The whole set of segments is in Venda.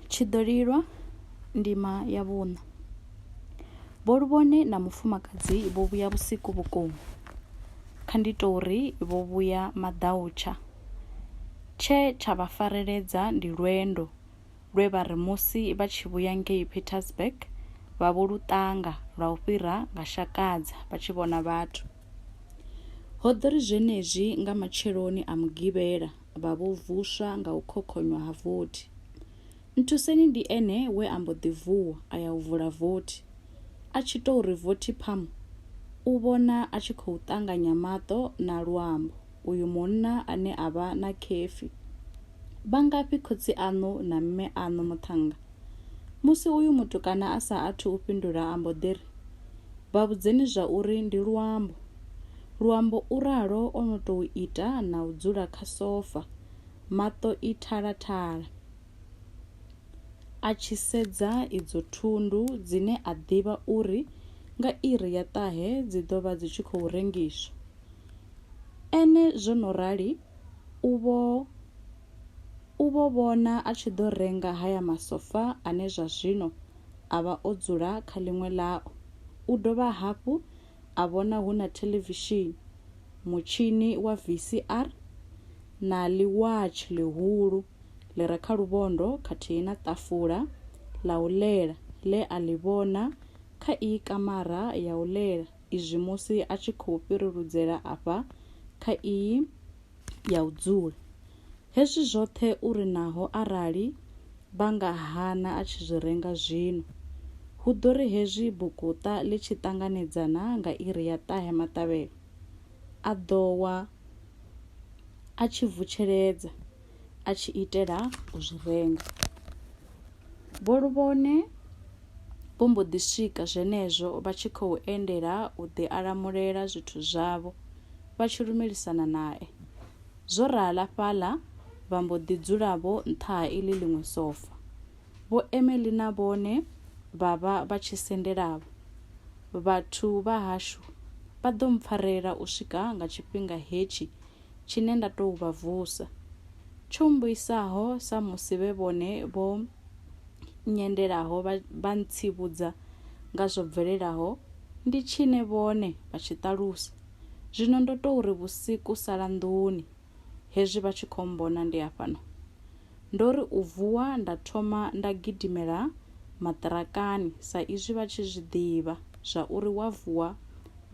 Tshiḓolilwa, Ndima ya vhuṋa. Vho Luvhone na mufumakadzi vho vhuya vhusiku vhukuma. Kha ndi tou ri vho vhuya maḓautsha. Tshe tsha vha fareledza ndi lwendo lwe vha ri musi vha tshi vhuya ngei Pietersburg vha vho lu ṱanga lwa u fhira nga Shakadza vha tshi vhona vhathu. Ho ḓo ri zwenezwi nga matsheloni a Mugivhela vha vho vuswa nga u khokhonywa ha vothi. Nthuseni ndi ene we a mbo ḓi vuwa a ya u vula vothi. A tshi tou ri vothi phamu, u vhona a tshi khou ṱanganya maṱo na luambo uyu munna ane a vha na khefhi. Vha ngafhi khotsi aṋu na mme aṋu muṱhannga? Musi uyu mutukana a sa athu u fhindula a mbo ḓi ri, Vha vhudzeni zwa uri ndi Luambo. Luambo u ralo o no tou ita na u dzula kha sofa, maṱo i thalathala, a tshi sedza idzo thundu dzine a ḓivha uri nga iri ya ṱahe dzi ḓo vha dzi tshi khou rengiswa. Ene zwo no rali u vho U vho vhona a tshi ḓo renga haya masofa ane zwa zwino a vha o dzula kha ḽiṅwe ḽao. U dovha hafhu a vhona hu na thelevishini, mutshini wa VCR na ḽiwatshi ḽihulu ḽi re kha luvhondo khathihi na ṱafula ḽa u ḽela ḽe a ḽi vhona kha iyi kamara ya u ḽela izwi musi a tshi khou fhiriludzela afha kha iyi ya u dzula. Hezwi zwoṱhe u ri naho arali vha nga hana a tshi zwi renga zwino. Hu ḓo ri hezwi bukuṱa ḽi tshi ṱanganedza na nga iri ya ṱahe maṱavhelo, a ḓo wa a tshi vutsheledza a tshi itela u zwi renga. Vho Luvhone. vho mbo ḓi swika zwenezwo vha tshi khou endela u ḓi alamulela zwithu zwavho vha tshi lumelisana nae. Zwo rala fhaḽa vha mbo ḓi dzula vho nṱha ha iḽi ḽiṅwe sofa. Vho Emily na vhone vha vha vha tshi sendelavho. Vhathu vha hashu vha ḓo mpfarela u swika nga tshifhinga hetshi tshine nda tou vha vusa. Tsho mbuisaho samusi vhe vhone vho nyendelaho vha ntsivhudza nga zwo bvelelaho ndi tshine vhone vha tshi ṱalusa. Zwino ndo tou ri vhusiku sala nḓuni, hezwi vha tshi khou mmbona ndi hafhano. Ndo ri u vuwa nda thoma nda gidimela maṱirakani sa izwi vha tshi zwi ḓivha zwa uri wa vuwa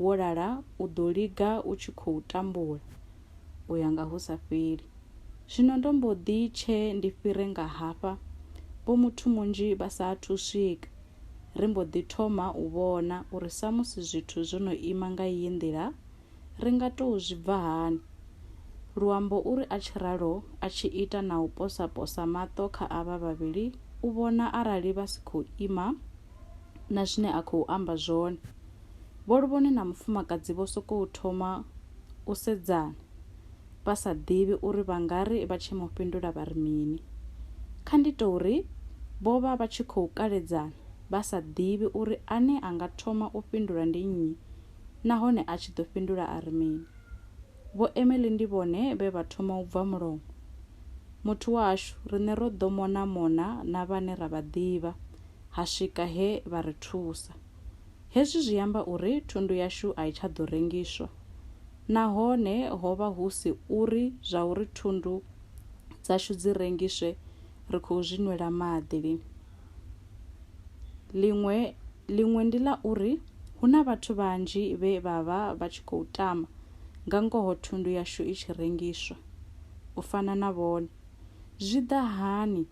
wo lala u ḓo liga u tshi khou tambula u ya nga hu sa fheli. Zwino ndo mbo ḓi tshe ndi fhire nga hafha, vho muthu munzhi vha sa athu u swika, ri mbo ḓi thoma u vhona uri samusi zwithu zwo no ima nga iyi nḓila Ri nga tou zwi bva hani? Luambo u ri a tshi ralo a tshi ita na u posa-posa maṱo kha avha vhavhili u vhona arali vha si khou ima na zwine a khou amba zwone. Vho Luvhone na mufumakadzi vho sokou thoma u sedzana vha sa ḓivhi uri vha nga ri vha tshi mu fhindula vha ri mini. Kha ndi tou ri vho vha vha tshi khou kaledzana vha sa ḓivhi uri ane a nga thoma u fhindula ndi nnyi nahone a tshi ḓo fhindula a ri mini? Vho Emily ndi vhone vhe vha thoma u bva mulomo. Muthu washu, riṋe ro ḓo mona-mona na vhane ra vha ḓivha, ha swika he vha ri thusa. Hezwi zwi amba uri thundu yashu a i tsha ḓo rengiswa. Nahone ho vha hu si uri zwa uri thundu dzashu dzi rengiswe ri khou zwi nwela maḓi lini. ḽiṅwe ḽiṅwe ndi ḽa uri hu na vhathu vhanzhi vhe vha vha vha tshi khou tama nga ngoho thundu yashu i tshi rengiswa u fana na vhone zwi ḓa hani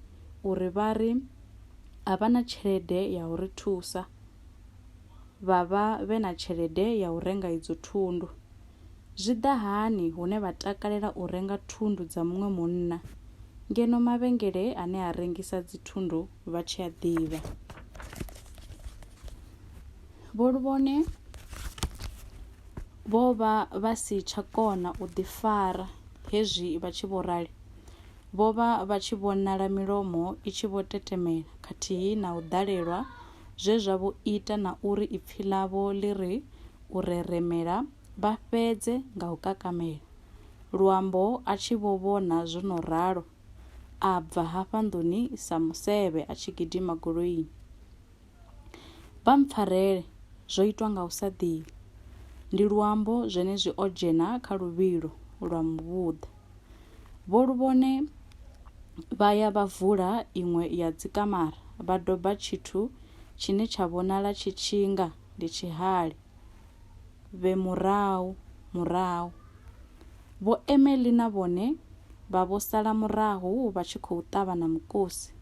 uri vha ri a vha na tshelede ya u ri thusa vha vha vhe na tshelede ya u renga idzo thundu Zwi ḓa hani hune vha takalela u renga thundu dza muṅwe munna ngeno mavhengele ane a rengisa dzithundu vha tshi a ḓivha? Vho Luvhone vho vha vha si tsha kona u ḓifara hezwi vha tshi vho rali. Vho vha vha tshi vhonala milomo i tshi vho tetemela khathihi na u ḓalelwa zwe zwa vho ita na uri ipfi ḽavho ḽi ri u reremela vha fhedze nga u kakamela. Luambo a tshi vho vhona zwo no ralo, a bva hafha nḓuni sa musevhe a tshi gidima goloini. Vha mpfarele, zwo itwa nga u sa ḓivha. Ndi luambo zwenezwi o dzhena kha luvhilo lwa muvhuḓa. Vho luvhone vha ya vha vula iṅwe ya dzikamara vha doba tshithu tshine tsha vhonala tshi tshinga ndi tshihali. Vhe murahu, murahu. Vho Emily na vhone vha vho sala murahu vha tshi khou ṱavha na mukosi.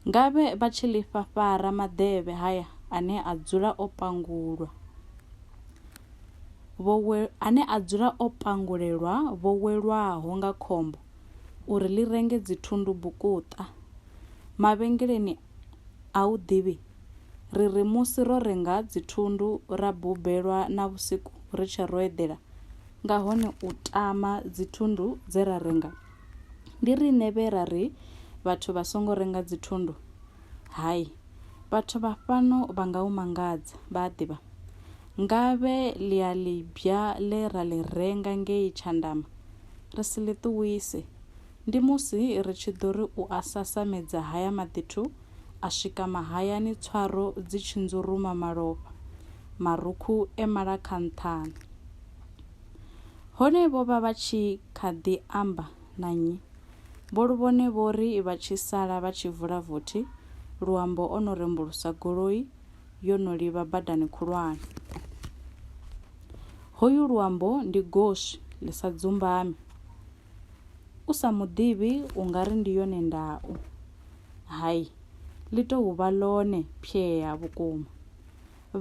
Nga vhe vha tshi lifha fara maḓevhe haya ane a dzula o pangulwa. Vho we, ane a dzula o pangulelwa vho welwaho nga khombo uri ḽi renge dzithundu bukuṱa mavhengeleni A u ḓivhi? Ri ri musi ro renga dzithundu ra bubelwa na vhusiku ri tshe ro eḓela, nga hone u tama dzithundu dze ra renga. Ndi riṋe vhe ra ri vhathu vha songo renga dzithundu? Hai. Vhathu vha fhano vha nga u mangadza, vha a ḓivha. Ngavhe ḽiaḽibbya ḽe ra ḽi renga ngei Tshandama ri si ḽi ṱuwise, Ndi musi ri tshi ḓo ri u a sasamedza haya maḓithu a swika mahayani tswaro dzi tshi nzuruma malofha, marukhu e mala kha nṱhani. Hone vho vha vha tshi kha ḓi amba na nnyi? Vho Luvhone vho ri vha tshi sala vha tshi vula vothi, Luambo o no rembulusa goloi yo no livha badani khulwane. Hoyu Luambo ndi goswi ḽi sa dzumbami. u sa mu ḓivhi u nga ri ndi yone ndau. Hai, ḽi tou vha ḽone phyea vhukuma.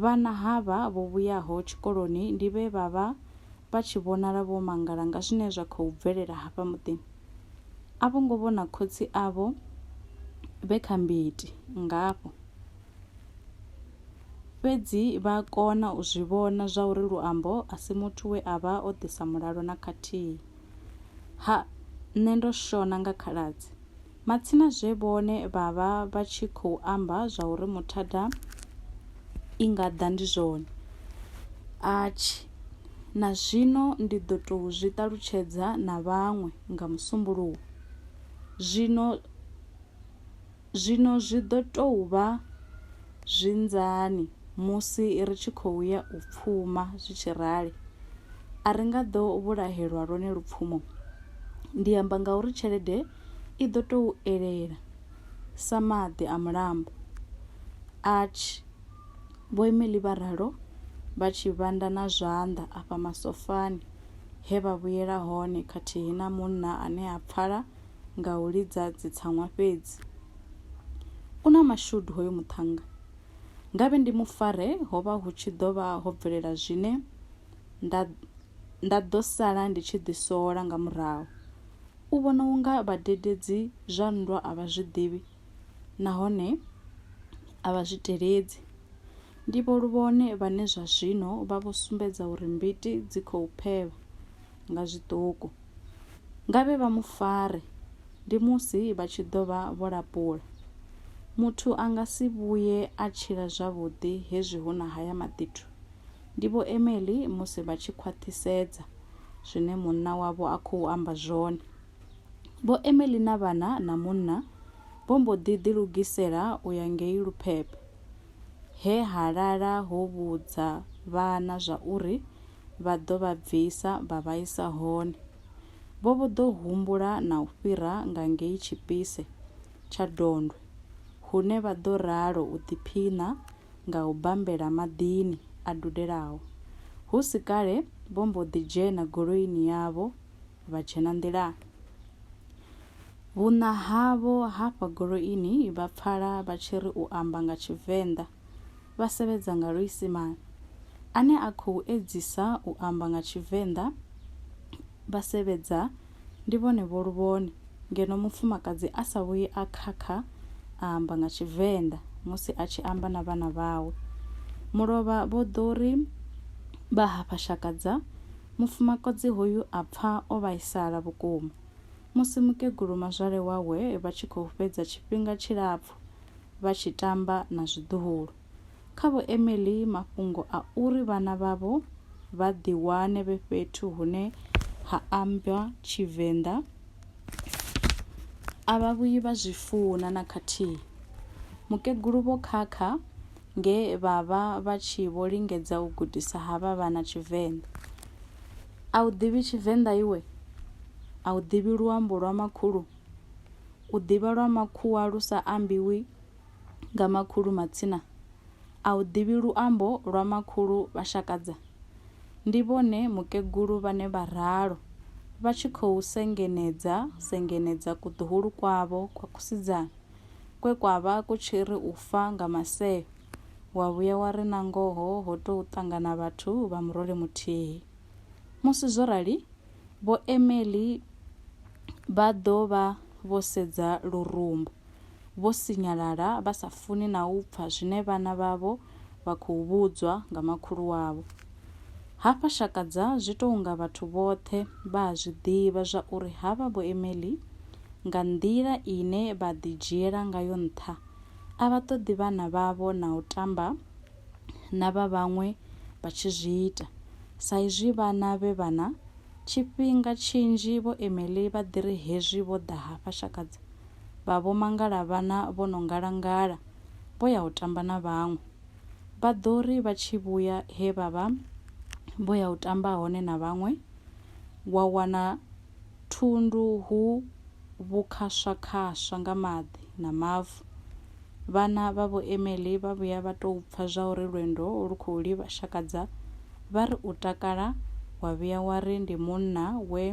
Vhana havha vho vhuyaho tshikoloni ndi vhe vha vha vha tshi vhonala vho mangala nga zwine zwa khou bvelela hafha muḓini. A vho ngo vhona khotsi avho vhe kha mbiti ngafho. Fhedzi vha kona u zwi vhona zwa uri Luambo a si muthu we a vha o ḓisa mulalo na khathihi. Ha, nṋe ndo shona nga khaladzi. Matsina zwe vhone vha vha vha tshi khou amba zwa uri muthada i nga ḓa ndi zwone. Atshi. Na zwino ndi ḓo tou zwi ṱalutshedza na vhaṅwe nga Musumbuluwo. Zwino. Zwino zwi ḓo tou vha zwi nzani musi ri tshi khou ya u pfuma zwi tshi rali? A ri nga ḓo vhulahelwa lwone lupfumo? Ndi amba ngauri tshelede i ḓo tou elela sa maḓi a mulambo. Ach! Vho Emily vha ralo vha tshi vhanda na zwanḓa afha masofani he vha vhuyela hone khathihi na munna ane a pfala nga u lidza dzitsaṅwa fhedzi. U na mashudu hoyo muṱhannga. Ngavhe ndi mu fare ho vha hu tshi ḓo vha ho bvelela zwine nda nda ḓo sala ndi tshi ḓisola nga murahu. U vhona u nga vhadededzi zwa nndwa a vha zwi ḓivhi nahone a vha zwi teledzi. Ndi vho Luvhone vhane zwa zwino vha vho sumbedza uri mbiti dzi khou phevha. nga zwiṱuku. Ngavhe vha mu fare, ndi musi vha tshi ḓo vha vho lapula. Muthu a nga si vhuye a tshila zwavhuḓi hezwi hu na haya maḓithu. Ndi Vho Emily musi vha tshi khwaṱhisedza zwine munna wavho a khou amba zwone. Vho Emily na vhana na munna vho mbo ḓi ḓilugisela u ya ngei Luphephe, he ha lala ho vhudza vhana zwauri vha ḓo vha bvisa vha vha isa hone. Vho vho ḓo humbula na u fhira nga ngei Tshipise tsha Dondwe hune vha ḓo ralo u ḓiphiṋa nga u bambela maḓini a dudelaho. Hu si kale vho mbo ḓi dzhena goloini yavho vha dzhena nḓilani. Vhuṋa havho hafha goloini vha pfala vha tshi ri u amba nga Tshivenḓa vha sevhedza nga luisimane, ane a khou edzisa u amba nga Tshivenḓa vha sevhedza ndi vhone vho luvhone ngeno mufumakadzi a sa vhuyi a khakha a amba nga Tshivenḓa musi a tshi amba na vhana vhawe. Mulovha vho ḓo ri vha hafha Shakadza, mufumakadzi hoyu a pfa o vhaisala vhukuma. Musi mukegulu mazwale wawe vha tshi khou fhedza tshifhinga tshilapfu vha tshi tamba na zwiḓuhulu. Kha Vho Emily, mafhungo a uri vhana vhavho vha ḓiwane vhe fhethu hune ha amba Tshivenḓa a vha vhuyi vha zwi funa na khathihi. Mukegulu Vho Khakha nge vha vha vha tshi vho lingedza u gudisa havha vhana Tshivenḓa. A u ḓivhi Tshivenḓa iwe? A u ḓivhi luambo lwa makhulu? U ḓivha lwa makhuwa lu sa ambiwi nga makhulu matsina a u ḓivhi luambo lwa makhulu vha Shakadza. Ndi vhone mukegulu vhane vha ralo vha tshi khou sengenedza sengenedza kuḓuhulu kwavho kwa kusidzana kwe kwa vha ku tshi ri u fa nga maseo wa vhuya wa ri nangoho ho tou ṱangana vhathu vha murole muthihi. Musi zwo rali Vho Emily vha ḓo vha vho sedza lurumbu, vho sinyalala vha sa funi na u pfa zwine vhana vhavho vha khou vhudzwa nga makhulu wavho. Hafha Shakadza zwi tou nga vhathu vhoṱhe vha a zwi ḓivha zwa uri havha Vho Emily nga nḓila ine vha ḓidzhiela ngayo nṱha a vha ṱoḓi vhana vhavho na u tamba na vha vhaṅwe vha tshi zwi ita. Sa izwi vhana vhe vhana, tshifhinga tshinzhi vho Emily vha ḓi ri hezwi vho ḓa hafha Shakadza vha vho mangala vhana vho no ngalangala vho ya u tamba na vhaṅwe. Vha ḓo ri vha tshi vhuya he vha vha vho ya u tamba hone na vhaṅwe, wa wana thundu hu vhukhaswakhaswa nga maḓi na mavu. Vhana vha Vho Emily vha vhuya vha tou pfa zwauri lwendo lu khou livha Shakadza, vha ri u takala wa vhuya wa ri ndi munna we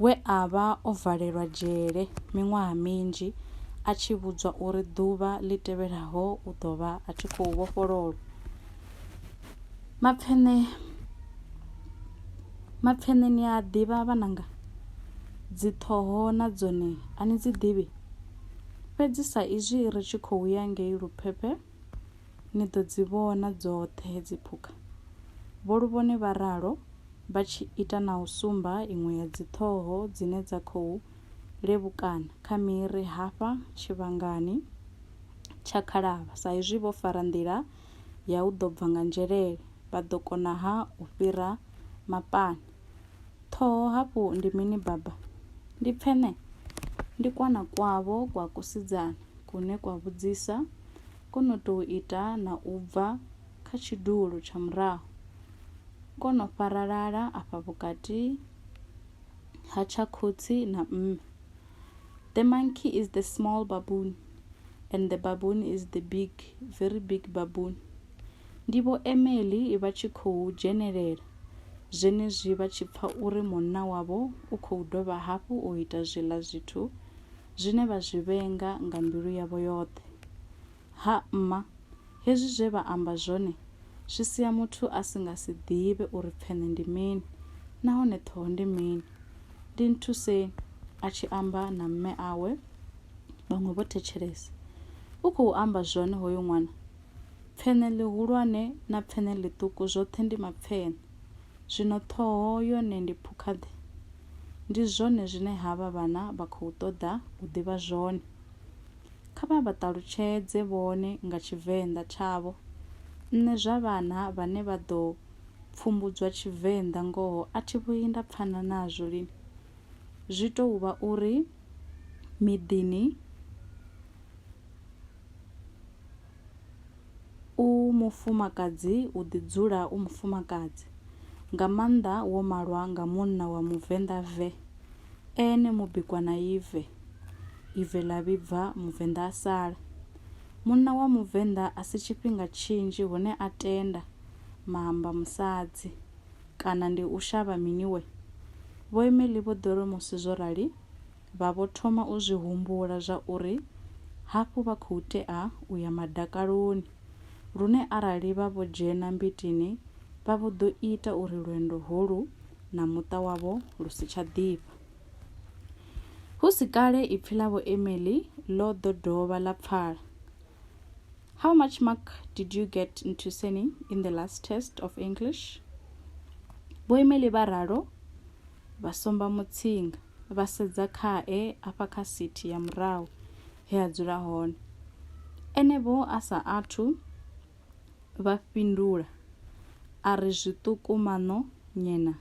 we a vha o valelwa dzhele miṅwaha minzhi a tshi vhudzwa uri ḓuvha ḽi tevhelaho u ḓo vha a tshi khou vhofhololwa. mapfene mapfene ni a ḓivha vhananga dzi ṱhoho na dzone a ni dzi ḓivhi fhedzi sa izwi ri tshi khou ya ngei luphephe ni ḓo dzi vhona dzoṱhe hedzi phukha vho luvhone vha ralo vha tshi ita na u sumba iṅwe ya dzi ṱhoho dzine dza khou levhukana kha miri hafha tshivhangani tsha khalavha sa izwi vho fara nḓila ya u ḓo bva nga nzhelele, vha ḓo kona-ha u fhira mapani? Ṱhoho hafhu ndi mini Baba? Ndi pfene? Ndi kwana kwavho kwa kusidzana kune kwa vhudzisa, ko no tou ita na u bva kha tshidulo tsha murahu, ko no faralala afha vhukati ha tsha khotsi na mme. the monkey is the small baboon and the baboon is the big very big baboon ndi vho emeli vha tshi khou dzhenelela zwenezwi vha tshi pfa uri munna wavho u khou dovha hafhu u ita zwiḽa zwithu zwine vha zwi vhenga nga mbilu yavho yoṱhe Ha mma, hezwi zwe vha amba zwone zwi sia muthu a si nga si ḓivhe uri pfeṋe ndi mini nahone ṱhoho ndi mini. Ndi nthuseni, a tshi amba na mme awe, vhaṅwe vho thetshelesa. U khou amba zwone hoyu ṅwana. Pfeṋe ḽihulwane na pfeṋe ḽiṱuku zwoṱhe ndi mapfeṋe. Zwino ṱhoho yone ndi phukha-ḓe? Ndi zwone zwine havha vhana vha khou ṱoḓa u ḓivha zwone. Kha vha vha ṱalutshedze vhone nga Tshivenḓa tshavho. Nṋe zwa vhana vhane vha ḓo pfumbudzwa Tshivenḓa ngoho a thi vhuyi nda pfana nazwo lini. Zwi tou vha uri miḓini u mufumakadzi u ḓi dzula u mufumakadzi, nga maanḓa wo malwa nga munna wa Muvenḓa ve, ene mubikwa na ive. ive ḽa vhibva Muvenḓa a sala. Munna wa Muvenḓa a si tshifhinga tshinzhi hune a tenda maamba musadzi, kana ndi u shavha mini we? Vho Emely vho ḓo ri musi zwo rali vha vho thoma u zwi humbula zwa uri hafhu vha khou tea u ya madakaloni lune arali vha vho dzhena mbitini vha vho ḓo ita uri lwendo holu na muṱa wavho lu si tsha ḓifha. Hu si kale ipfi ḽa Vho Emily ḽo ḓo dovha ḽa pfala. How much mark did you get in Tusening in the last test of English? Vho Emily vha ralo vha somba mutsinga vha sedza khae afha kha sithi ya murahu he a dzula hone. Ene vho a sa athu vha fhindula a ri zwiṱuku maṋo nyena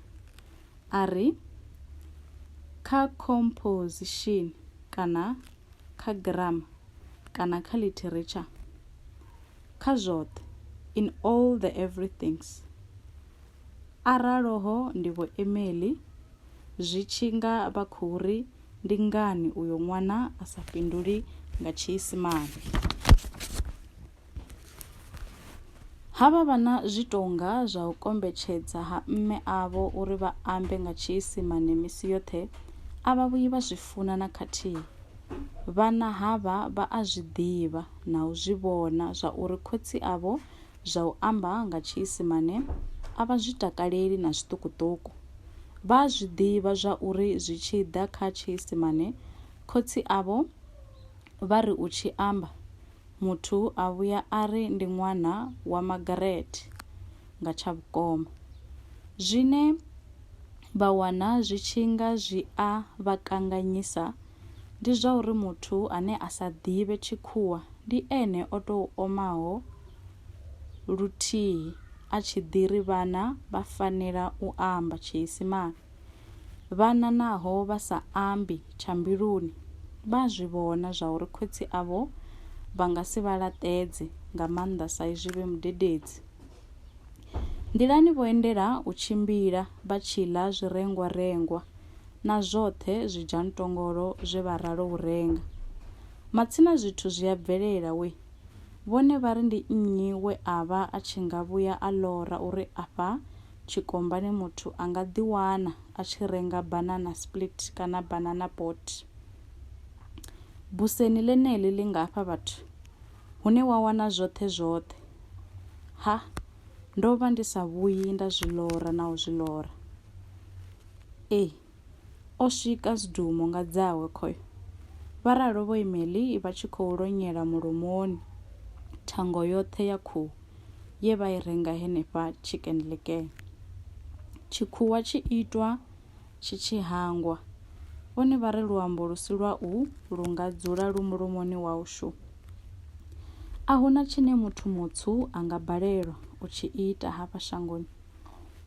a ri kha composition kana kha grammar kana kha literature kha zwoṱhe in all the everythings araloho ndi vho Emily zwi tshi nga vha khou ri ndi ngani uyo ṅwana a sa fhinduli nga tshiisimane Ha vha vha na zwitonga zwa u kombetshedza ha mme avho uri vha ambe nga tshiisimane misi yoṱhe, a vha vhuyi vha zwi funa na khathihi. Vhana havha vha a zwi ḓivha na u zwi vhona zwa uri khotsi avho zwa u amba nga tshiisimane a vha zwi takaleli na zwiṱukuṱuku. Vha a zwi ḓivha zwa uri zwi tshi ḓa kha tshiisimane khotsi avho vha ri u tshi amba, Muthu a vhuya a ri ndi ṅwana wa Margaret nga tsha vhukoma. Zwine vha wana zwi tshi nga zwi a vha kanganyisa ndi zwa uri muthu ane a sa ḓivhe Tshikhuwa ndi ene o tou omaho luthihi a tshi ḓi ri vhana vha fanela u amba Tshiisimane. Vhana naho vha sa ambi, tsha mbiluni vha a zwi vhona zwa uri khotsi avho vha nga si vha laṱedze, nga maanḓa sa izwi vhe mudededzi. Nḓilani vho endela u tshimbila vha tshi ḽa zwirengwarengwa na zwoṱhe zwidzhantongolo zwe vha ralo u renga. Matsina zwithu zwi a bvelela we. Vhone vha ri ndi nnyi we a vha a tshi nga vhuya a lora uri afha tshikombani muthu a nga ḓiwana a tshi renga banana split kana banana boat buseni ḽeneḽi ḽi nga fha vhathu hune wa wana zwoṱhe zwoṱhe ha ndo vha ndi sa vhuyi nda zwi lora na u zwi lora ee O swika zwidumo nga dzawe khoyo. Vha ralo vho imeli vha tshi khou lonyela mulomoni thango yoṱhe ya khuhu ye vha i renga henefha Chicken Licken. Tshikhuwa tshi itwa tshi tshi hangwa. Vhone vha ri luambo lu si lwa u lu nga dzula lu mulomoni wau shu. A huna tshine muthu mutswu a nga balelwa u tshi ita hafha shangoni.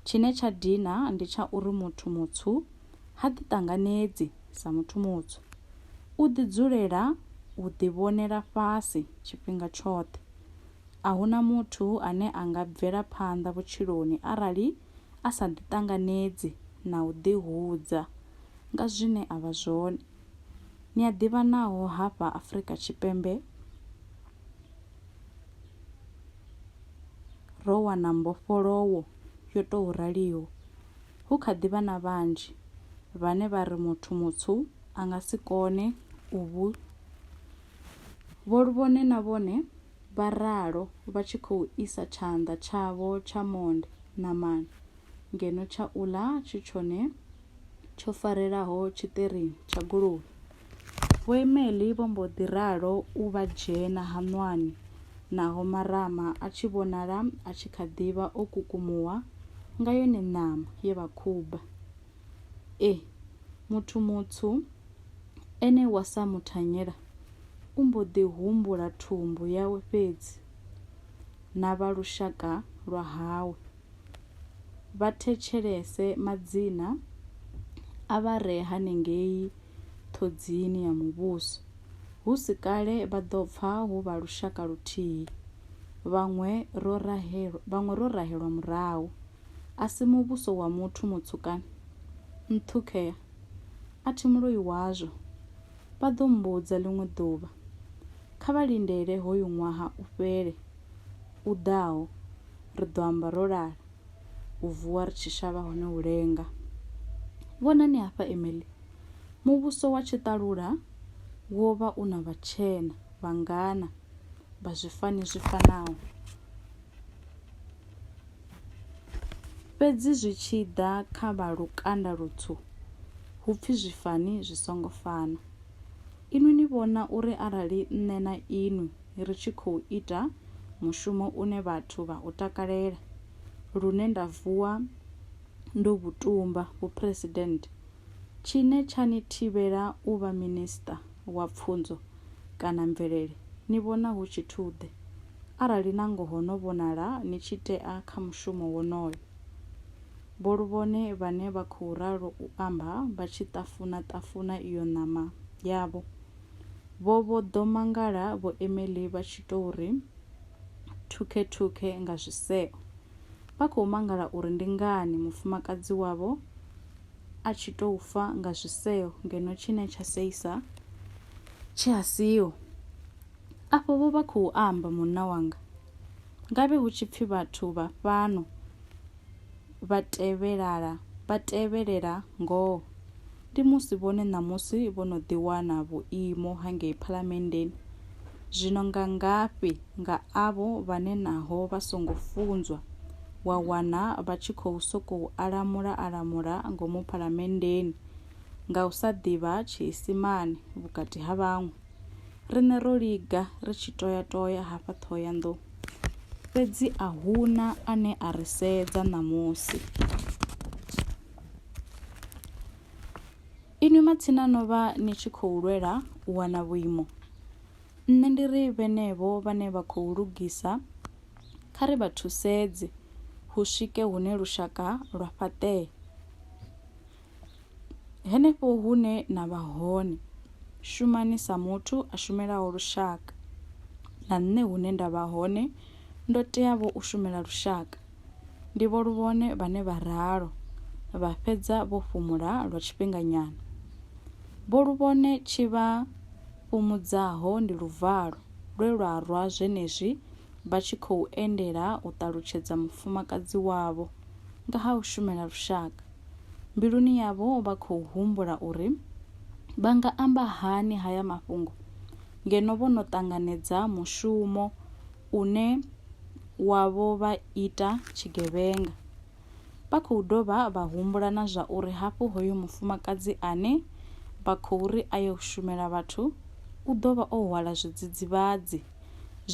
Tshine tsha dina ndi tsha uri muthu mutswu ha ḓiṱanganedzi sa muthu mutswu. U ḓidzulela u ḓivhonela fhasi tshifhinga tshoṱhe. A hu na muthu ane a nga bvela phanḓa vhutshiloni arali a sa ḓiṱanganedzi na u ḓihudza nga zwine a vha zwone. Ni a ḓivha naho hafha Afrika Tshipembe, ro wana mbofholowo yo tou raliho, hu kha ḓi vha na vhanzhi vhane vha ri muthu mutswu a nga si kone u vhu vholuvhone na vhone vha ralo vha tshi khou isa tshanḓa tshavho tsha monde ṋamani ngeno tsha u ḽa tshi tshone tsho farelaho tshiṱirini tsha goloi. Vho Emely vho mbo ḓi ralo u vha dzhena haṋwani naho marama a tshi vhonala a tshi kha ḓi vha o kukumuwa nga yone ṋama ye vha khuba. E, muthu mutswu ene wa sa mu thanyela u mbo ḓi humbula thumbu yawe fhedzi na vha lushaka lwa hawe. vha thetshelese madzina a vha re hanengei ṱhodzini ya muvhuso. Hu si kale vha ḓo pfa hu vha lushaka luthihi, vhaṅwe ro rahelwa, vhaṅwe ro rahelwa murahu. A si muvhuso wa muthu mutswu kana? Nṱhukhea, a thi muloi wazwo, vha ḓo mmbudza ḽiṅwe ḓuvha. Kha vha lindele hoyu ṅwaha u fhele. u ḓaho ri ḓo amba ro lala, u vuwa ri tshi shavha hone u lenga. Vhonani hafha, Emily. Muvhuso wa tshiṱalula wo vha u na vhatshena vhangana vha zwifani zwi fanaho. Fhedzi zwi tshi ḓa kha vha lukanda lutswu, hu pfi zwifani zwi songo fana. Inwi ni vhona uri arali nṋe na inwi ri tshi khou ita mushumo une vhathu vha u takalela lune nda vuwa ndo vhu tumba vhuphresidennde, tshine tsha ni thivhela u vha Minisiṱa wa Pfunzo kana Mvelele, ni vhona hu tshithu-ḓe, arali na ngoho no vhonala ni tshi tea kha mushumo wonoyo? Vho Luvhone vhane vha khou ralo u amba vha tshi ṱafuna-ṱafuna iyo ṋama yavho Vho vho ḓo mangala vho Emily vha tshi tou ri thukhe-thukhe nga zwiseo. Vha khou mangala uri ndi ngani mufumakadzi wavho a tshi tou fa nga zwiseo ngeno tshine tsha seisa tshi a siho. Afho vho vha khou amba munna wanga. Ngavhe hu tshi pfi vhathu vha fhano vha tevhelala vha tevhelela ngoho ndi musi vhone ṋamusi vho no ḓiwana vhuimo hangei phalamenndeni zwino nga ngafhi nga avho vhane naho vha songo funzwa wa wana vha tshi khou sokou alamula alamula ngomu phalamenndeni nga u sa ḓivha tshiisimane vhukati ha vhaṅwe riṋe ro liga ri tshi toya toya hafha Ṱhohoyanḓou fhedzi a hu na ane a ri sedza ṋamusi. Inwi matsina no vha ni tshi khou lwela u wana vhuimo, nṋe ndi ri vhenevho vhane vha khou lugisa kha ri vha thusedze hu swike hune lushaka lwa fhaṱee. Henefho hune na vha hone, shumani sa muthu a shumelaho lushaka. Na nṋe hune nda vha hone, ndo teavho u shumela lushaka. Ndi vho luvhone vhane vha ralo, vha fhedza vho fhumula lwa tshifhinganyana. Vho luvhone tshi vha fhumudzaho ndi luvalo lwe lwa rwa zwenezwi vha tshi khou endela u ṱalutshedza mufumakadzi wavho nga ha u shumela lushaka. Mbiluni yavho vha khou humbula uri vha nga amba hani haya mafhungo ngeno vho no ṱanganedza mushumo une wavho vha ita tshigevhenga. Vha khou dovha vha humbula na zwa uri hafhu hoyo mufumakadzi ane vha khou ri a yo shumela vhathu u ḓo vha o hwala zwidzidzivhadzi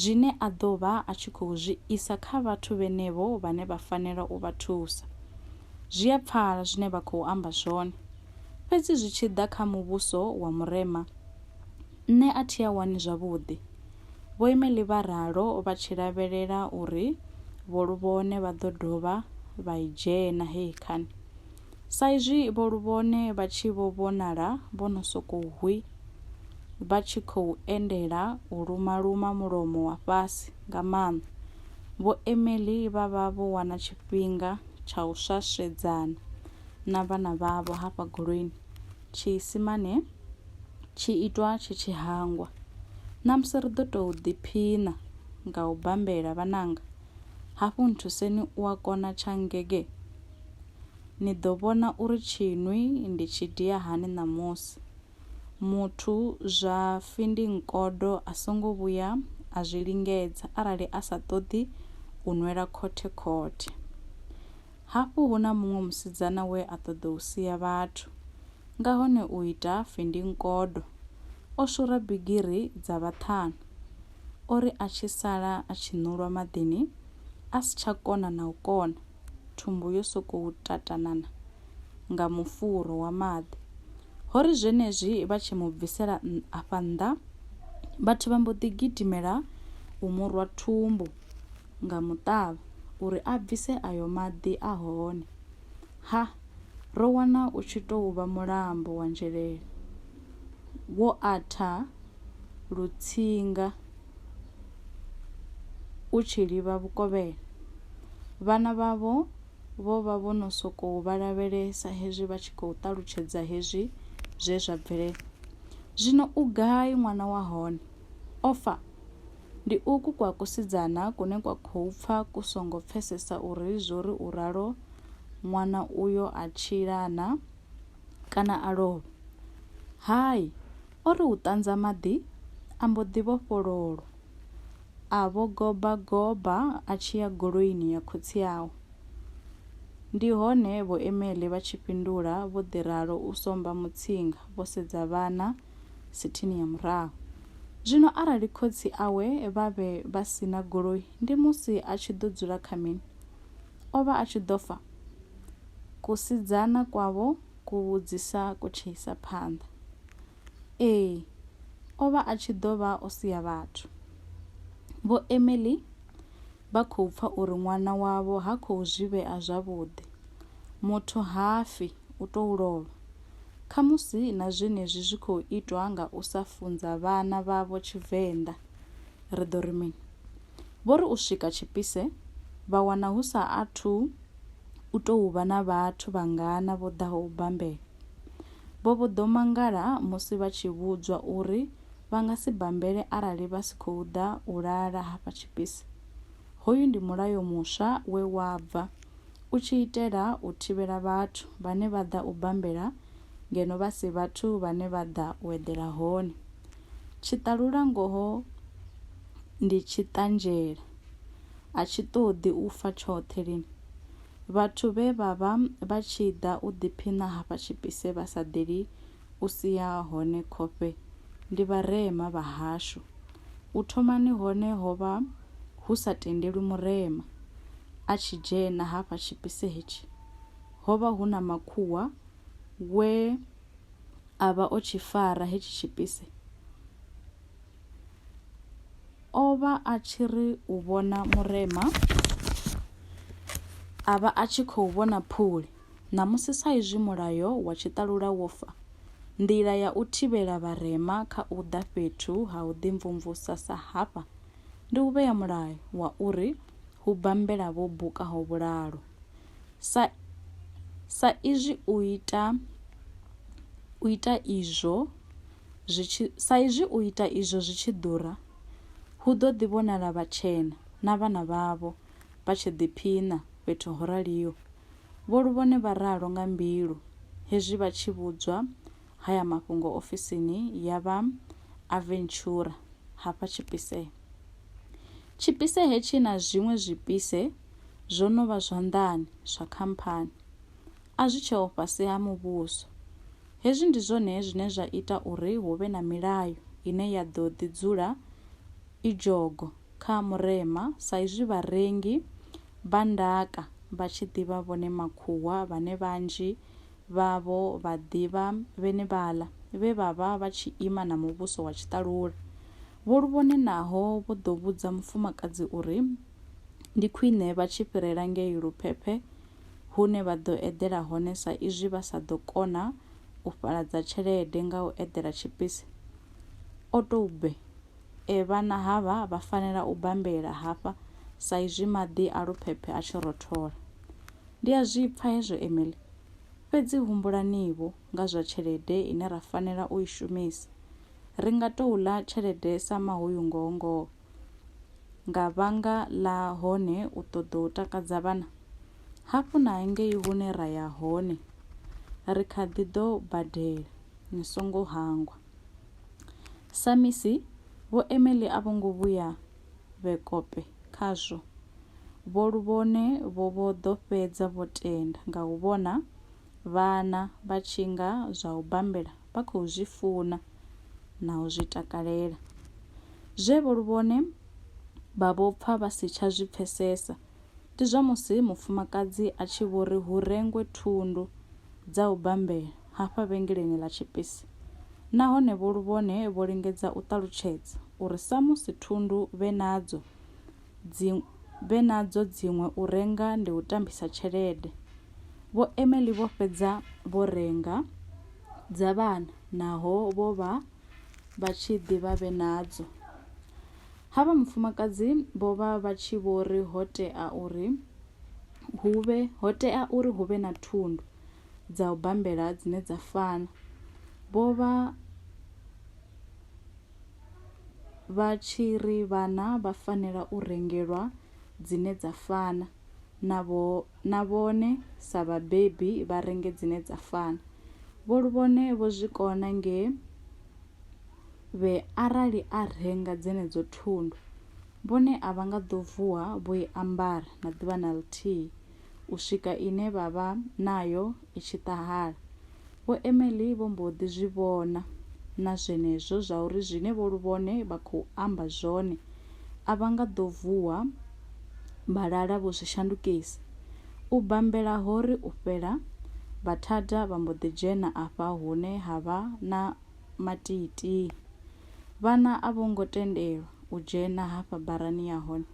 zwine a ḓo vha a tshi khou zwi isa kha vhathu vhenevho vhane vha fanela u vha thusa. Zwi a pfala zwine vha khou amba zwone. Fhedzi zwi tshi ḓa kha muvhuso wa Murema, nṋe a thi a wani zwavhuḓi. Vhoimeli vha ralo vha tshi lavhelela uri Vho Luvhone vha ḓo dovha vha i dzhena heyi khani. Saizwi Vho Luvhone vha tshi vho vhonala vho no sokou hwi, vha tshi khou endela u luma-luma mulomo wa fhasi nga maanḓa, Vho Emily vha vha vho wana tshifhinga tsha u swaswedzana na vhana vhavho hafha goloini tshiisimane tshi itwa tshi tshi hangwa ṋamusi ri ḓo tou ḓiphina nga u bambela vhananga hafhu nthuseni u a kona tsha ngege ni ḓo vhona uri tshinwi ndi tshi dia hani ṋamusi muthu zwa findingodo a songo vhuya a zwi lingedza arali a sa ṱoḓi u nwela khothe khothe. Hafhu hu na muṅwe musidzana we a ṱoḓa u sia vhathu nga hone u ita findingodo. O shura bigiri dza vhaṱhanu. O ri a tshi sala a tshi ṋulwa maḓini a si tsha kona na u kona. thumbu yo sokou tatanana nga mufuro wa maḓi. Ho ri zwenezwi vha tshi mu bvisela afha nnḓa, vhathu vha mbo ḓi gidimela u mu rwa thumbu nga muṱavha uri a bvise ayo maḓi a hone. Ha, ro wana u tshi tou vha mulambo wa nzhelele wo atha lutsinga. u tshi livha vhukovhela. Vhana vhavho vho vha vho no sokou vha lavhelesa hezwi vha tshi khou ṱalutshedza hezwi zwe zwa bvelela. Zwino u gai ṅwana wa hone? O fa? Ndi uku kwa kusidzana kune kwa khou pfa ku songo pfesesa uri zwo ri u ralo ṅwana uyo a tshilana kana a lovha. Hai, O ri u ṱanza maḓi, a mbo ḓi vhofhololwa. A vho goba goba a tshi ya goloini ya khotsi awe. Ndi hone vho Emily vha tshi fhindula vho ḓi ralo u somba mutsinga vho sedza vhana sithini ya murahu. Zwino arali khotsi awe vha vhe vha si na goloi ndi musi a tshi ḓo dzula kha mini? O vha a tshi ḓo fa? Kusidzana kwavho kuvhudzisa ku tshi isa phanḓa. Ee, o vha a tshi ḓo vha o sia vhathu. Vho Emily vha khou pfa uri ṅwana wavho ha khou zwi vhea zwavhuḓi. Muthu ha fi, u tou lovha. Khamusi na zwenezwi zwi khou itwa nga u sa funza vhana vhavho Tshivenḓa, ri ḓo ri mini? Vho ri u swika Tshipise vha wana hu sa athu u tou vha na vhathu vhangana vho ḓaho u bambela. Vho vho ḓo mangala musi vha tshi vhudzwa uri vha nga si bambele arali vha si khou ḓa u lala hafha Tshipise. Hoyu ndi mulayo muswa we wa bva u tshi itela u thivhela vhathu vhane vha ḓa u bambela ngeno vha si vhathu vhane vha ḓa u eḓela hone. Tshiṱalulangoho ndi tshiṱanzhela, a tshi ṱoḓi u fa tshoṱhe lini. Vhathu vhe vha vha vha tshi ḓa u ḓiphiṋa hafha tshipise vha sa ḓeli u sia hone khofhe ndi vharema vha hashu. U thomani hone ho vha hu sa tendelwi murema a tshi dzhena hafha tshipise hetshi. Ho vha hu na makhuwa we. a vha o tshi fara hetshi tshipise, o vha a tshi ri u vhona murema, a vha a tshi khou vhona phuli. Ṋamusi sa izwi mulayo wa tshiṱalula wo fa, nḓila ya u thivhela vharema kha u ḓa fhethu ha u ḓimvumvusa sa hafha ndi u vhea mulayo wa uri hu bambela vho bukaho vhulalo. Sa izwi u ita u ita izwo zwi tshi sa izwi u ita izwo zwi tshi ḓura, hu ḓo ḓi vhonala vhatshena na vhana vhavho vha tshi ḓiphiṋa fhethu ho raliho. Vho Luvhone vha ralo nga mbilu hezwi vha tshi vhudzwa haya mafhungo ofisini ya vha Aventura hafha Tshipisee. Tshipisee hetshi na zwiṅwe zwipise zwo no vha zwanḓani zwa khamphani, a zwi tsheho fhasi ha muvhuso. Hezwi ndi zwone zwine zwa ita uri hu vhe na milayo ine ya ḓo ḓi dzula i dzhogo kha murema sa izwi vharengi vha ndaka vha tshi ḓi vha vhone makhuwa vhane vhanzhi vhavho vha ḓivha vhenevhaḽa vhe vha vha vha tshi ima na muvhuso wa tshiṱalula. Vho Luvhone naho vho ḓo vhudza mufumakadzi uri Ndi khwine vha tshi fhirela ngei Luphephe hune vha ḓo eḓela hone sa izwi vha sa ḓo kona u fhaladza tshelede nga u eḓela tshipisi. O tou bbe, e vhana havha vha fanela u bambelela hafha sa izwi maḓi a Luphephe a tshi rothola. Ndi a zwi pfa hezwo Emily, fhedzi humbulani-vho nga zwa tshelede ine ra fanela u i shumisa. Ri nga tou ḽa tshelede sa mahuyu ngoho ngoho. nga vhanga ḽa hone u ṱoḓa u takadza vhana, hafhu na ngei hune ra ya hone ri kha ḓi ḓo badela, ni songo hangwa. Samisi vho Emily a vho ngo vhuya vhe kope khazwo. Vho Luvhone vho vho ḓo fhedza vho tenda nga u vhona Vhana vha tshi nga zwa u bambela vha khou zwi funa na u zwi takalela. Zwe vho luvhone vha vho pfa vha si tsha zwi pfesesa ndi zwa musi mufumakadzi a tshi vho ri hu rengwe thundu dza u bambela hafha vhengeleni ḽa tshipisi nahone vho luvhone vho lingedza u ṱalutshedza uri samusi thundu vhe nadzo dzi vhe nadzo dziṅwe u renga ndi u tambisa tshelede. Vho Emily vho fhedza vho renga dza vhana naho vho vha vha tshi ḓi vha vhe nadzo. Havha mufumakadzi vho vha vha tshi vho ri ho tea uri hu vhe ho tea uri hu vhe na thundu dza u bambela dzine dza fana. Vho vha vha tshi ri vhana vha fanela u rengelwa dzine dza fana na vhone sa vhabebi vha renge dzine dza fana. Vho Luvhone vho zwi kona nge vhe arali a renga dzenedzo thundu vhone a vha nga ḓo vuwa vho i ambara na ḓuvha na ḽithihi. u swika ine vha vha nayo i tshi ṱahala. Vho Emily vho mbo ḓi zwi vhona na zwenezwo zwa uri zwine vho Luvhone vha khou amba zwone a vha nga ḓo vuwa vha lala vho zwi shandukisa. U bambela ho ri u fhela, Vhathada vha mbo ḓi dzhena afha hune ha vha na matiitii. Vhana a vho ngo tendelwa u dzhena hafha barani ya hone.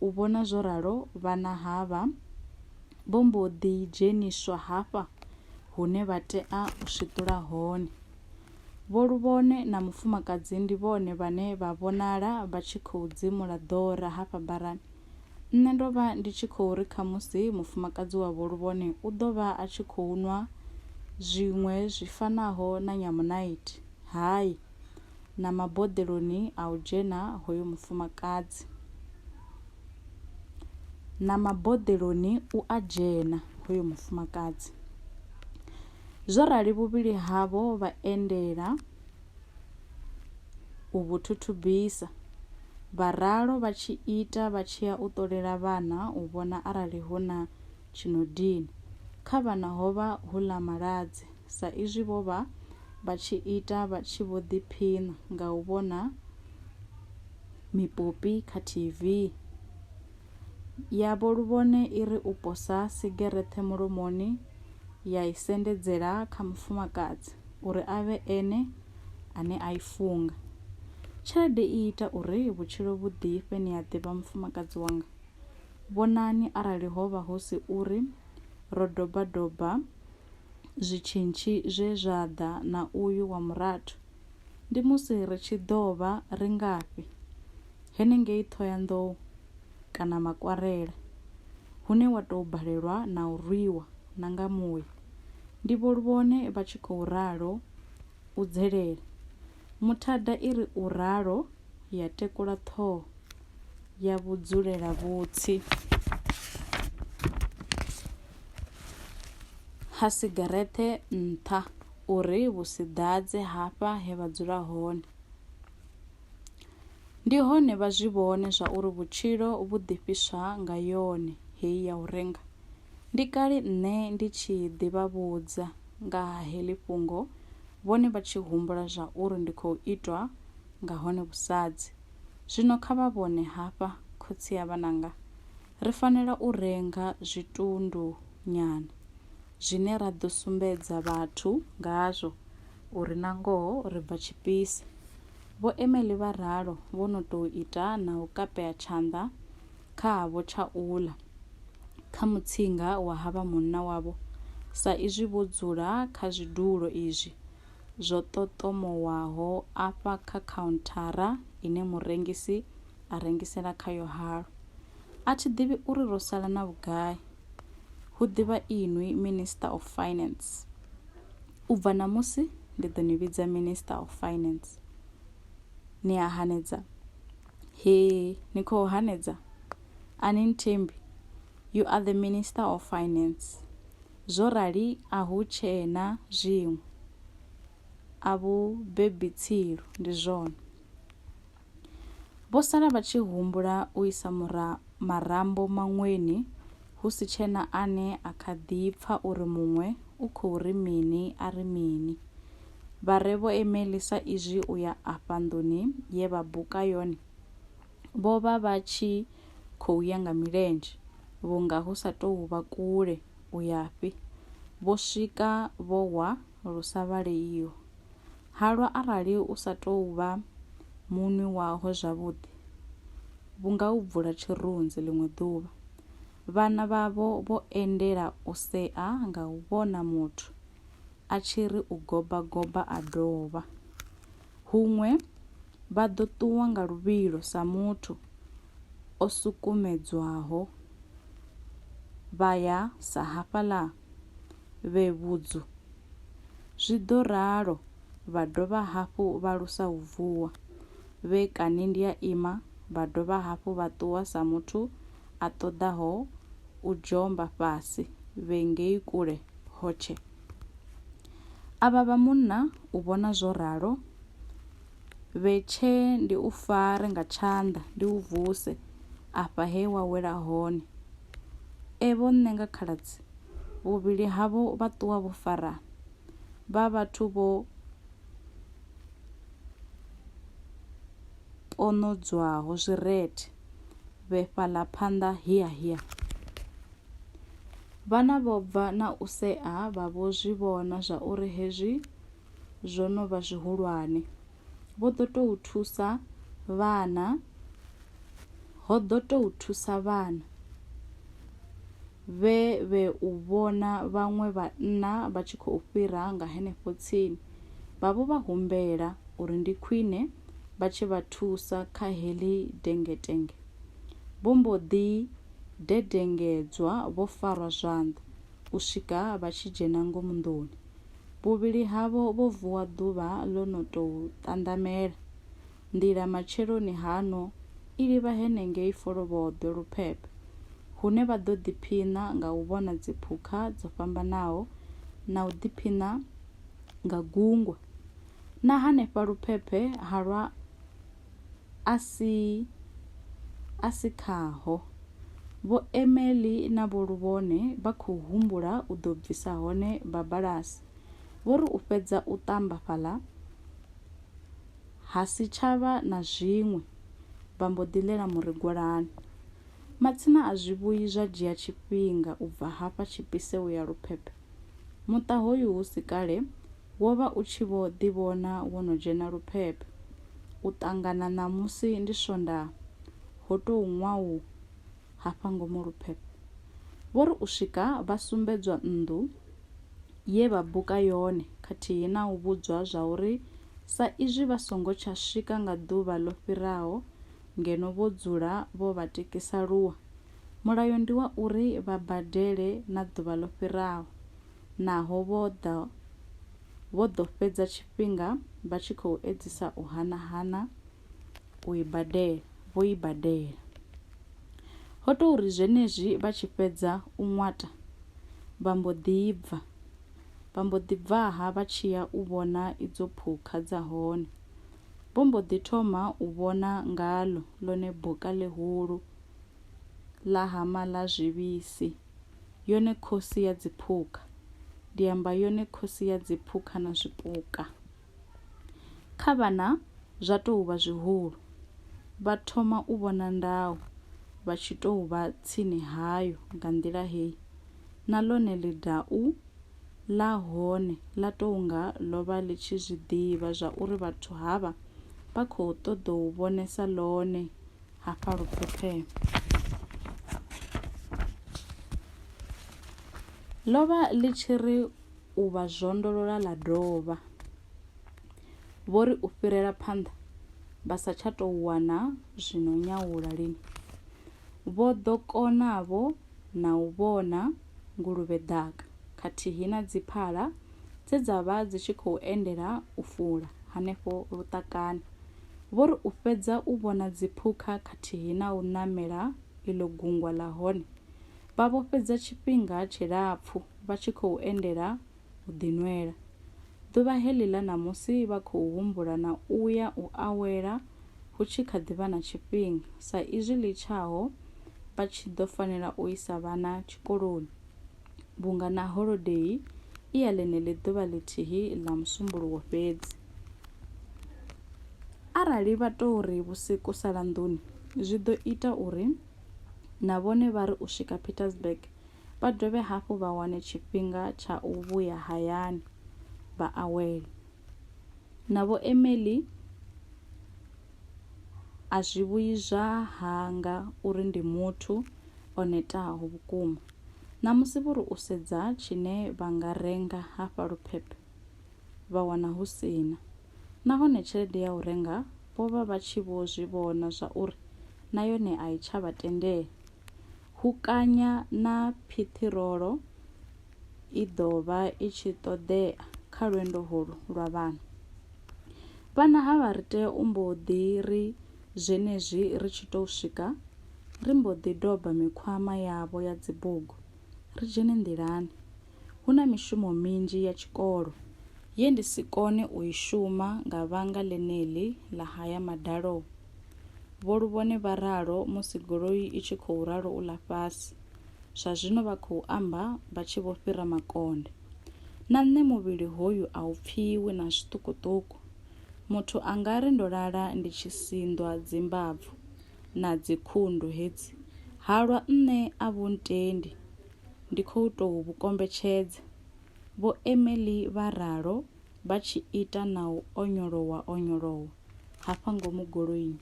U vhona zwo ralo, vhana havha vho mbo ḓi dzheniswa hafha hune vha tea u swiṱula hone. Vho Luvhone na mufumakadzi ndi vhone vhane vha vhonala vha tshi khou dzimula ḓora hafha barani. Nṋe ndo vha ndi tshi khou ri khamusi mufumakadzi wa Vho Luvhone u ḓo vha a tshi khou nwa zwiṅwe zwi fanaho na nyamunaithi. Hai! na maboḓeloni a u dzhena hoyo mufumakadzi, na maboḓeloni u a dzhena hoyo mufumakadzi. Zwo rali vhuvhili havho vha endela u vhu thuthubisa, vha ralo vha tshi ita vha tshi ya u ṱolela vhana u vhona arali hu na tshi no dina. Kha vhana ho vha hu ḽa maladze. sa izwi vho vha vha tshi ita vha tshi vho ḓiphiṋa nga u vhona mipopi kha TV. Ya vho luvhone i ri u posa sigereṱhe mulomoni ya i sendedzela kha mufumakadzi uri a vhe ene ane a i funga. Tshelede i ita uri vhutshilo vhu ḓifhe ni a ḓivha mufumakadzi wanga. Vhonani arali ho vha hu si uri ro doba doba zwitshintshi zwe zwa ḓa na uyu wa murathu ndi musi ri tshi ḓo vha ri ngafhi henengei Ṱhohoyanḓou kana Makwarela hune wa tou balelwa na u rwiwa na nga muya, ndi Vho Luvhone vha tshi khou ralo u dzelela. Muthada i ri u ralo ya tekula ṱhoho ya vhudzulelavhutsi ha sigarethe nṱha uri vhu si ḓadze hafha he vha dzula hone. Ndi hone vha zwi vhone zwa uri vhutshilo vhu ḓifhiswa nga yone heyi ya u renga. Ndi kale nṋe ndi tshi ḓivha vhudza nga ha heḽi fhungo, vhone vha tshi humbula zwa uri ndi khou itwa nga hone vhusadzi. Zwino kha vha vhone hafha, khotsi ya vhananga, ri fanela u renga zwitundu nyana zwine ra ḓo sumbedza vhathu ngazwo uri na ngoho ri bva tshipisi. Vho Emily vha ralo, vho no tou ita na u kapea tshanḓa kha havho tsha u ḽa kha mutsinga wa ha vha munna wavho, sa izwi vho dzula kha zwidulo izwi zwo ṱoṱomowaho afha kha khaunthara ine murengisi a rengisela khayo halwa. A thi ḓivhi uri ro sala na vhugai, hu ḓivha inwi Minister of Finance. U bva ṋamusi ndi ḓo ni vhidza Minister of Finance. Ni a hanedza? Hee, ni khou hanedza? A ni nthembi? You are the Minister of Finance. Zwo rali a hu tshena zwiṅwe. A vhu bebi tsilu, ndi zwone. Vho sala vha tshi humbula u isa marambo maṅweni hu si tshena ane a kha ḓi pfa uri muṅwe u khou ri mini a ri mini. Vha re vho emeli sa izwi u ya afha nḓuni ye vha buka yone vho vha vha tshi khou ya nga milenzhe vhunga hu sa tou vha kule u yafhi, vho swika vho wa lu sa vhaleiho. Halwa arali u sa tou vha muṅwi waho zwavhuḓi, vhu nga u bvula tshirunzi ḽiṅwe ḓuvha. Vhana vhavho vho endela u sea nga u vhona muthu a tshi ri u goba goba a dovha. Huṅwe vha ḓo ṱuwa nga luvhilo sa muthu o sukumedzwaho vha ya sa hafhaḽa. vhe vhudzu. Zwi ḓo ralo vha dovha hafhu vha lusa u vuwa, vhe kani ndi a ima vha dovha hafhu vha ṱuwa sa muthu a ṱoḓaho u dzhomba fhasi vhe ngei kule hotshe. Avha vha munna u vhona zwo ralo, Vhe tshe ndi u fare nga tshanḓa ndi u vuse afha he wa wela hone. E vho nṋe nga khaladzi, vhuvhili havho vha ṱuwa vho fara vha vhathu vho ponodzwaho zwirethe vhe fhaḽa phanḓa hiya hiya. Vhana vho bva na u sea vha vho zwi vhona zwa uri hezwi zwo no vha zwihulwane. Vho ḓo tou thusa vhana, ho ḓo tou thusa vhana vhe vhe u vhona vhaṅwe vhanna vha tshi khou fhira nga henefho tsini. Vha vho vha humbela uri ndi khwine vha tshi vha thusa kha heḽi dengetenge. Vho mbo ḓi dedengedzwa vho farwa zwanḓa u swika vha tshi dzhena ngomu nḓuni. Vhuvhili havho vho vuwa ḓuvha ḽo no tou ṱanḓamela. Nḓila matsheloni haṋo i livha henengei Folovhoḓwe Luphephe, hune vha ḓo ḓiphiṋa nga u vhona dziphukha dzo fhambanaho na u ḓiphiṋa nga gungwa. Na hanefha Luphephe ha lwa a si a si khaho. Vho Emily na Vho Luvhone vha khou humbula u ḓo bvisa hone babalasi. Vho ri u fhedza u ṱamba fhaḽa ha si tsha vha na zwiṅwe, vha mbo ḓi ḽela murigwalani. Matsina a zwivhuyi zwa dzhia tshifhinga u bva hafha tshipise u ya luphephe. Muṱa hoyu hu si kale wo vha u tshi vho ḓivhona wo no dzhena luphep. U ṱangana ṋamusi ndi Swondaha, ho tou ṅwau hafha ngomu luphep. Vho ri u swika vha sumbedzwa nnḓu ye vha buka yone khathihi na u vhudzwa zwa uri sa izwi vha songo tsha swika nga ḓuvha ḽo fhiraho ngeno vho dzula vho vha tikisa lua, mulayo ndi wa uri vha badele na ḓuvha ḽo fhiraho. Naho vho ḓa vho ḓo fhedza tshifhinga vha tshi khou edzisa u hana-hana u i badela, vho i badela. Ho tou ri zwenezwi vha tshi fhedza u ṅwata, vha mbo ḓi bva. Vha mbo ḓi bvaha vha tshi ya u vhona idzo phukha dza hone. Vho mbo ḓi thoma u vhona ngaḽo ḽone boka ḽihulu ḽa hama ḽa zwivhisi. yone khosi ya dziphukha ndi amba yone khosi ya dziphukha na zwipuka kha vhana zwa tou vha zwihulu vha thoma u vhona ndau vha tshi tou vha tsini hayo nga nḓila heyi na ḽone ḽidau ḽa hone ḽa tou nga ḽo vha ḽi tshi zwi ḓivha zwa uri vhathu havha vha khou ṱoḓou vhonesa ḽone hafha luphepheni ḽo vha ḽi tshi ri u vha zwondolola ḽa dovha vho ri u fhirela phanḓa vha sa tsha tou wana zwino nyawula lini vho ḓo konavho na u vhona nguluvhe ḓaka khathihi na dziphala dze dza vha dzi tshi khou endela u fula hanefho luṱakani Vho ri u fhedza u vhona dziphukha khathihi na u ṋamela iḽo gungwa ḽa hone, vha vho fhedza tshifhinga tshilapfu vha tshi khou endela u ḓinwela. Ḓuvha heḽi ḽa ṋamusi vha khou humbula na u ya u awela hu tshi kha ḓi vha na tshifhinga sa izwi ḽi tshaho vha tshi ḓo fanela u isa vhana tshikoloni. vhunga na holodei i ya ḽeneḽi ḓuvha ḽithihi ḽa musumbuluwo fhedzi. Arali vha tou ri vhusiku sala nḓuni, zwi ḓo ita uri na vhone vha ri u swika Pietersburg vha dovhe hafhu vha wane tshifhinga tsha u vhuya hayani vha awele. Na Vho Emily a zwi vhuyi zwa hanga uri ndi muthu o netaho vhukuma. Ṋamusi vho ri u sedza tshine vha nga renga hafha Luphephe vha wana hu si na. Nahone tshelede ya u renga vho vha vha tshi vho zwi vhona zwa uri na yone a i tsha vha tendela. Hukanya na phiṱhirolo i ḓo vha i tshi ṱoḓea kha lwendo holu lwa vhana. Vhana havha ri tea u mbo ḓi ri. Zwenezwi ri tshi tou swika, ri mbo ḓi doba mikhwama yavho ya dzibugu ri dzhene nḓilani. Hu na mishumo minzhi ya tshikolo ye ndi si kone u i shuma nga vhanga ḽeneḽi ḽa haya madalo, Vho Luvhone vha ralo musi goloi i tshi khou ralo u ḽa fhasi. Zwa zwino vha khou amba vha tshi vho fhira makonde. Na nṋe muvhili hoyu a u pfiwi na zwiṱukuṱuku. Muthu a nga ri ndo lala ndi tshi sinḓwa dzimbabvu na dzikhundu hedzi, halwa nṋe a vhu ntendi, ndi khou tou vhu kombetshedza, Vho Emily vha ralo vha tshi ita na u onyolowa-onyolowa hafha ngomu goloini.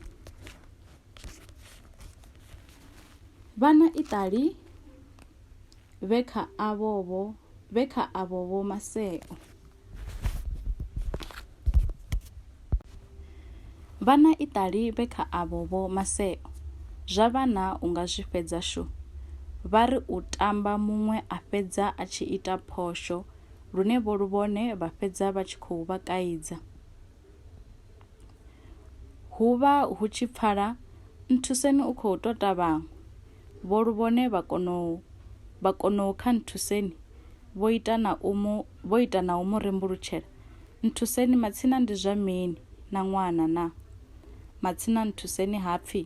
Vhana iṱali vhe kha avho vho vhe kha avho vho maseo. Vhana iṱali vhe kha avho vho maseo zwa vhana u nga zwi fhedza shu. Vha ri u tamba muṅwe a fhedza a tshi ita phosho lune vho luvhone vha fhedza vha tshi khou vha kaidza. Hu vha hu tshi pfala nthuseni u khou tota vhaṅwe. Vho Luvhone vha konou vha konou kha Nthuseni vho ita na u mu vho ita na u mu rembulutshela, Nthuseni matsina ndi zwa mini na ṅwana na? Matsina Nthuseni ha pfi,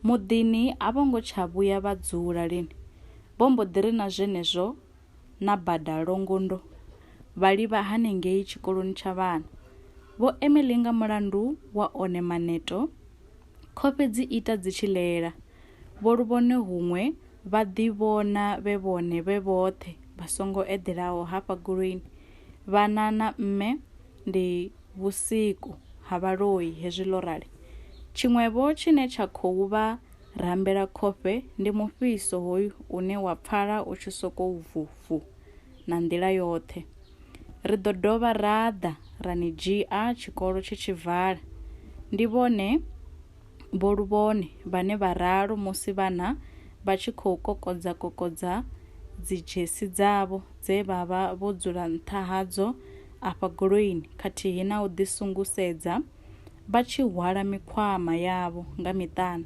Muḓini a vho ngo tsha vhuya vha dzula lini, vho mbo ḓi ri na zwenezwo na bada Longondo vha livha hanengei tshikoloni tsha vhana. Vho Emily nga mulandu wa one maneto, Khofhe dzi ita dzi tshi lela. Vho Luvhone huṅwe vha ḓivhona vhe vhone vhe vhoṱhe vha songo eḓelaho hafha goloini. Vhana na mme ndi vhusiku ha vhaloi hezwi ḽo rali. Tshiṅwevho tshine tsha khou vha rambela khofhe ndi mufhiso hoyu une wa pfala u tshi sokou vu-vu na nḓila yoṱhe. Ri ḓo dovha ra ḓa ra ni dzhia tshikolo tshi tshi vala. Ndi vhone Vho Luvhone vhane vha ralo musi vhana vha tshi khou kokodza-kokodza dzidzhesi dzavho dze vha vha vho dzula nṱha hadzo afha goloini khathihi na u ḓisungusedza vha tshi hwala mikhwama yavho nga miṱana.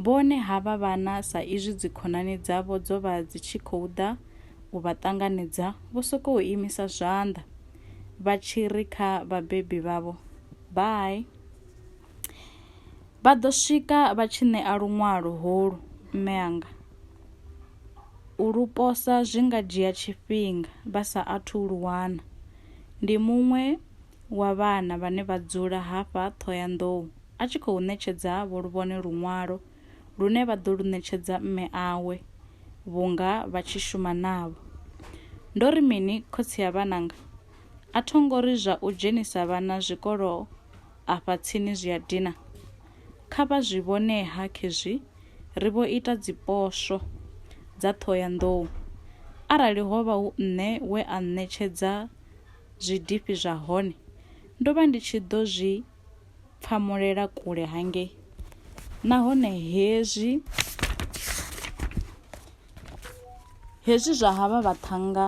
Vhone havha vhana sa izwi dzikhonani dzavho dzo vha dzi tshi khou ḓa u vha ṱanganedza vho sokou imisa zwanḓa vha tshi ri kha vhabebi vhavho bye vha ḓo swika vha tshi ṋea luṅwalo holu mme anga u lu posa zwi nga dzhia tshifhinga vha sa athu lu wana ndi muṅwe wa vhana vhane vha dzula hafha ṱhoyandou a tshi khou ṋetshedza vho luvhone luṅwalo lune vha ḓo lu ṋetshedza mme awe vhunga vha tshi shuma navho. Ndo ri mini khotsi ya vhananga? A tho ngo ri zwa u dzhenisa vhana zwikolo afha tsini zwi a dina. Kha vha zwi vhone-ha khezwi ri vho ita dziposwo dza Ṱhohoyanḓou. Arali ho vha hu nṋe we a ṋetshedza zwidifhi zwa hone, ndo vha ndi tshi ḓo zwi pfamulela kule hangei nahone hezwi hezwi zwa havha vhaṱhannga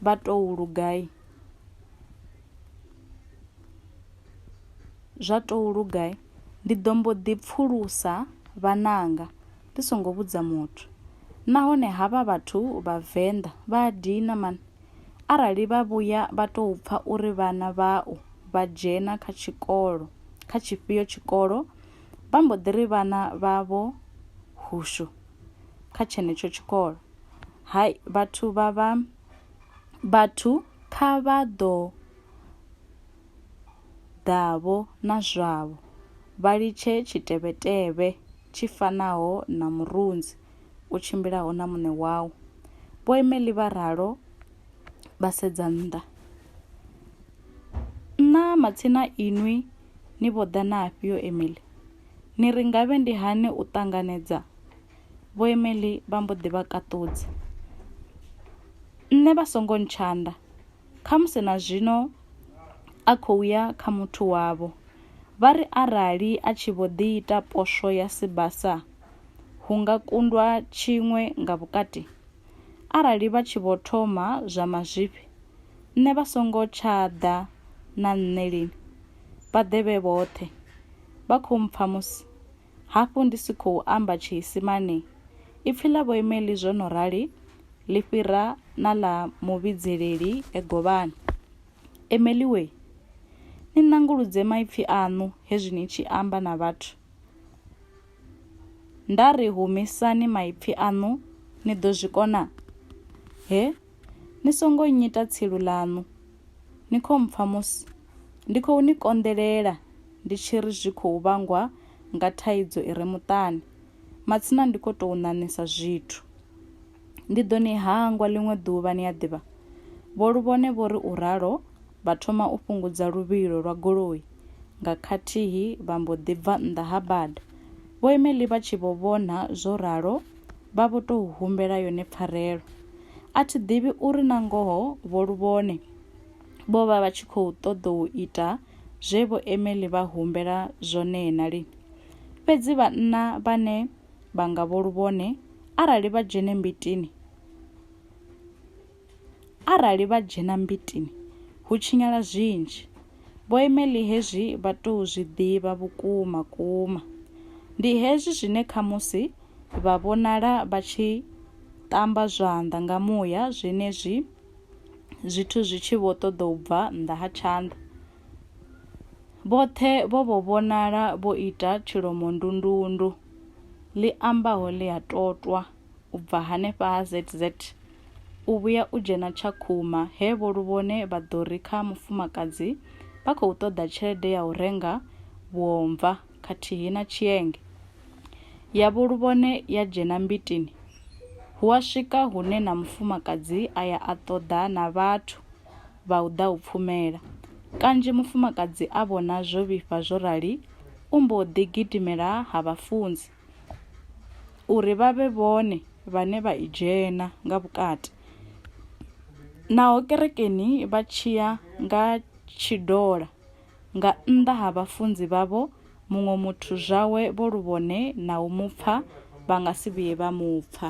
vha tou lugai zwa tou lugai ndi ḓo mbo ḓi pfulusa vhananga ndi songo vhudza muthu nahone havha vhathu vhavenḓa vha a dina mani Arali vha vhuya vha tou pfa uri vhana vhau vha dzhena kha tshikolo kha tshifhio tshikolo vha mbo ḓi ri vhana vhavho hushu kha tshenetsho tshikolo hai vhathu vha vha vhathu kha vha ḓo ḓavho na zwavho vha litshe tshitevhetevhe tshi fanaho na murunzi u tshimbilaho na Muṋe wau. Vhoemeli vha ralo vha sedza nnḓa. Nṋa matsina inwi ni vho ḓa na afhio Emily? Ni ri ngavhe ndi hani u ṱanganedza? Vhoemeli vha mbo ḓi vha kaṱudza. Nṋe vha songo ntshanda, khamusi na zwino a khou ya kha muthu wavho. Vha ri arali a tshi vho ḓi ita poswo ya sibasa, hu nga kundwa tshiṅwe nga vhukati? Arali vha tshi vho thoma zwa mazwifhi, nṋe vha songo tsha ḓa na nṋe lini? Vha ḓe vhe vhoṱhe. Vha khou mpfa musi hafhu ndi si khou amba Tshiisimane? Ipfi ḽa vhoimeli zwo no rali ḽi fhira na ḽa muvhidzeleli e govhani. Emeli wee! Ni nanguludze maipfi aṋu hezwi ni tshi amba na vhathu. Nda ri, Humisani maipfi aṋu, ni ḓo zwi kona? He, ni songo nnyita tsilu ḽaṋu. Ni khou mpfa musi ndi khou ni konḓelela ndi tshi ri zwi khou vhangwa nga thaidzo i re muṱani? Matsina ndi khou tou ṋaṋisa zwithu. Ndi ḓo ni hangwa ḽiṅwe ḓuvha, ni a ḓivha, Vho Luvhone vho ri u ralo. vha thoma u fhungudza luvhilo lwa goloi nga khathihi vha mbo ḓi bva nnḓa ha bada. Vho Emily vha tshi vho vhona zwo ralo vha vho tou humbela yone pfarelo. A thi ḓivhi uri na ngoho vho luvhone vho vha vha tshi khou ṱoḓa u ita zwe vho Emily vha humbela zwone na lini. Fhedzi vhanna vhane vha nga vho luvhone arali vha dzhene mbitini, Arali vha dzhena mbitini, hu tshinyala zwinzhi. Vho Emily hezwi vha tou zwi ḓivha vhukuma kuma. Ndi hezwi zwine khamusi vha vhonala vha tshi ṱamba zwanḓa nga muya zwenezwi zwithu zwi tshi vho ṱoḓa u bva nnḓa ha tshanḓa. Vhoṱhe vho vho vhonala vho ita tshilomondundundu ḽi ambaho ḽi a totwa. u bva hanefha ha ZZ u vhuya u dzhena Tshakhuma he Vho Luvhone vha ḓo ri kha mufumakadzi vha khou ṱoḓa tshelede ya u renga vhuomva khathihi na tshienge. Ya Vho Luvhone ya dzhena Mbitini, hu a swika hune na mufumakadzi a ya a ṱoḓa na vhathu vha u ḓa u pfumela. Kanzhi mufumakadzi a vhona zwo vhifha zwo rali u mbo ḓi gidimela ha vhafunzi. uri vha vhe vhone vhane vha i dzhena nga vhukati naho kerekeni vha tshiya nga tshidola nga nnḓa ha vhafunzi vhavho muṅwe muthu zwawe vho lu vhone na u mu pfa vha nga si vhuye vha mu pfa